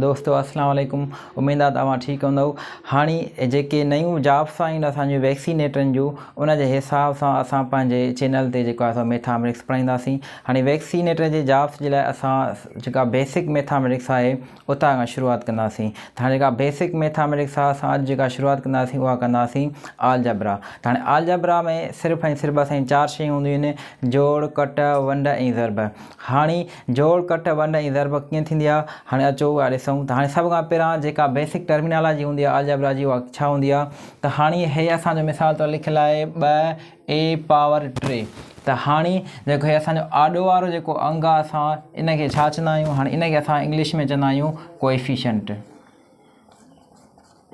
دوستو السلام عليڪم اميد آ ته اوهان ٺيڪ هوندؤ هاڻي جيڪي نيون جابس آيون اسان جون ويڪسينيٽرن جون ان جي حساب سان اسان پنهنجي چينل تي جيڪو آهي سو ميٿامريڪس پڙهائينداسين هاڻي ويڪسينيٽر جي جابس جي لاء اسان جيڪا بيسڪ ميٿامريڪس آهي اتان کان شروعات ڪنداسين ته هاڻي جيڪا بيسڪ ميٿامريڪس آهي اسان اڄ جيڪا شروعات ڪنداسين اها ڪنداسين آلجبرا ته هاڻي آلجبرا ۾ صرف ۽ صرف بس ۽ چار شيون هونديون آهن جوڙ ڪٽ ونڊ ۽ ضرب هاڻي جوڙ، ڪٽ، ونڊ ۽ ضرب ڪيئن ٿيندي آهي، هاڻي اچو اها ڏسون ته هاڻي سڀ کان پهريان جيڪا بيسڪ ٽرمينالاجي هوندي آهي الجبرا جي اها ڇا هوندي آهي ته هاڻي هي اسان جو مثال طور لکيل آهي ٻه اي پاور ٽي ته هاڻي جيڪو هي اسان جو آڏو وارو جيڪو انگ آهي اسان ان کي ڇا چوندا آهيون هاڻي ان کي اسان انگلش ۾ چوندا آهيون ڪوئفيشنٽ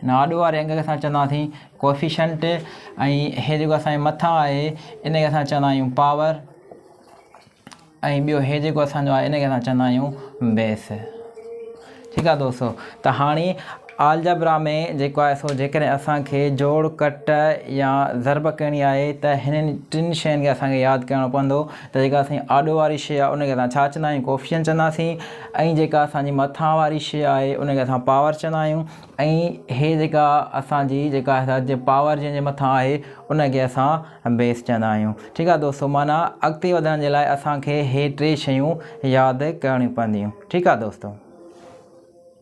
هن آڏو واري انگ کي اسان چونداسين Coefficient ۽ هي جيڪو اسان جي مٿان آهي ان کي اسان چوندا آهيون Power ۽ ٻيو هي جيڪو اسان جو آهي ان کي اسان چوندا آهيون Base ٺيڪ آهي دوستو ته هاڻي آلجبرا ۾ جيڪو آهي سو جيڪڏهن اسان کي جوڙ ڪٽ يا ضرب ڪرڻي آهي ته هنن ٽن شين کي اسان کي ياد ڪرڻو پوندو ته جيڪا اسان جي آڏو واري شيء آهي ان کي اسان ڇا چوندا آهيون ڪوفيشنٽ چونداسين ۽ جيڪا اسان جي مٿان واري شيء آهي ان کي اسان پاور چوندا آهيون ۽ هي جيڪا اسان جي جيڪا پاور جنهن جي مٿان آهي ان کي اسان بيس چوندا آهيون ٺيڪ آهي دوستو معنيٰ اڳتي وڌڻ جي لاء اسان کي هي ٽي شيون ياد ڪرڻيون پونديون ٺيڪ آهي دوستو.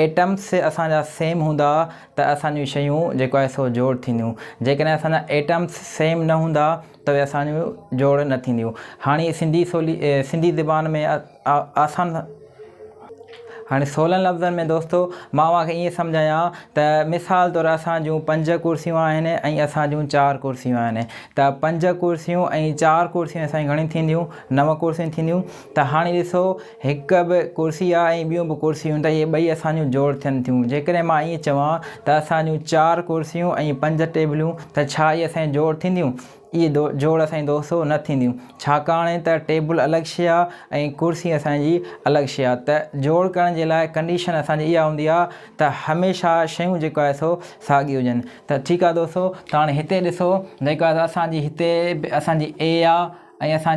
ايٽمس اسان جا سيم هوندا ته اسان جون شيون جيڪو آهي سو جوڙ ٿينديون جيڪڏهن اسان جا ايٽمس سيم نه هوندا ته اهي اسان جون جوڙ نه ٿينديون هاڻي سنڌي سولي سنڌي زبان ۾ آسان هاڻي سولن لفظن ۾ دوستو مان اوهان کي ائين سمجهايان ته مثال طور اسان جون پنج ڪرسيون آهن ۽ اسان جون چار ڪرسيون آهن ته پنج ڪرسيون ۽ چار ڪرسيون اسان جون گهڻيون ٿينديون نو ڪرسيون ٿينديون ته هاڻي ڏسو هڪ به ڪرسي آهي ۽ ٻيون به ڪرسيون ته اهي ٻئي اسان جون جوڙ ٿين ٿيون. جيڪڏهن مان ائين چوان ته اسان جون چار ڪرسيون ۽ پنج ٽيبلون ته ڇا اهي اسان جون جوڙ ٿينديون؟ اهي جوڙ اسان جون دوستو نه ٿينديون. ڇاڪاڻ ته ٽيبل الڳ شيء آهي ۽ ڪرسي اسان جي الڳ شيء آهي ته جوڙ ڪرڻ جي لاء ڪنڊيشن اسان جي اها هوندي آهي ته هميشه شيون جيڪو آهي سو ساڳيون هجن ته ٺيڪ آهي دوستو ته هاڻي هتي ڏسو جيڪو آهي سو اسان جي هتي اسان جي اي آهي ۽ اسان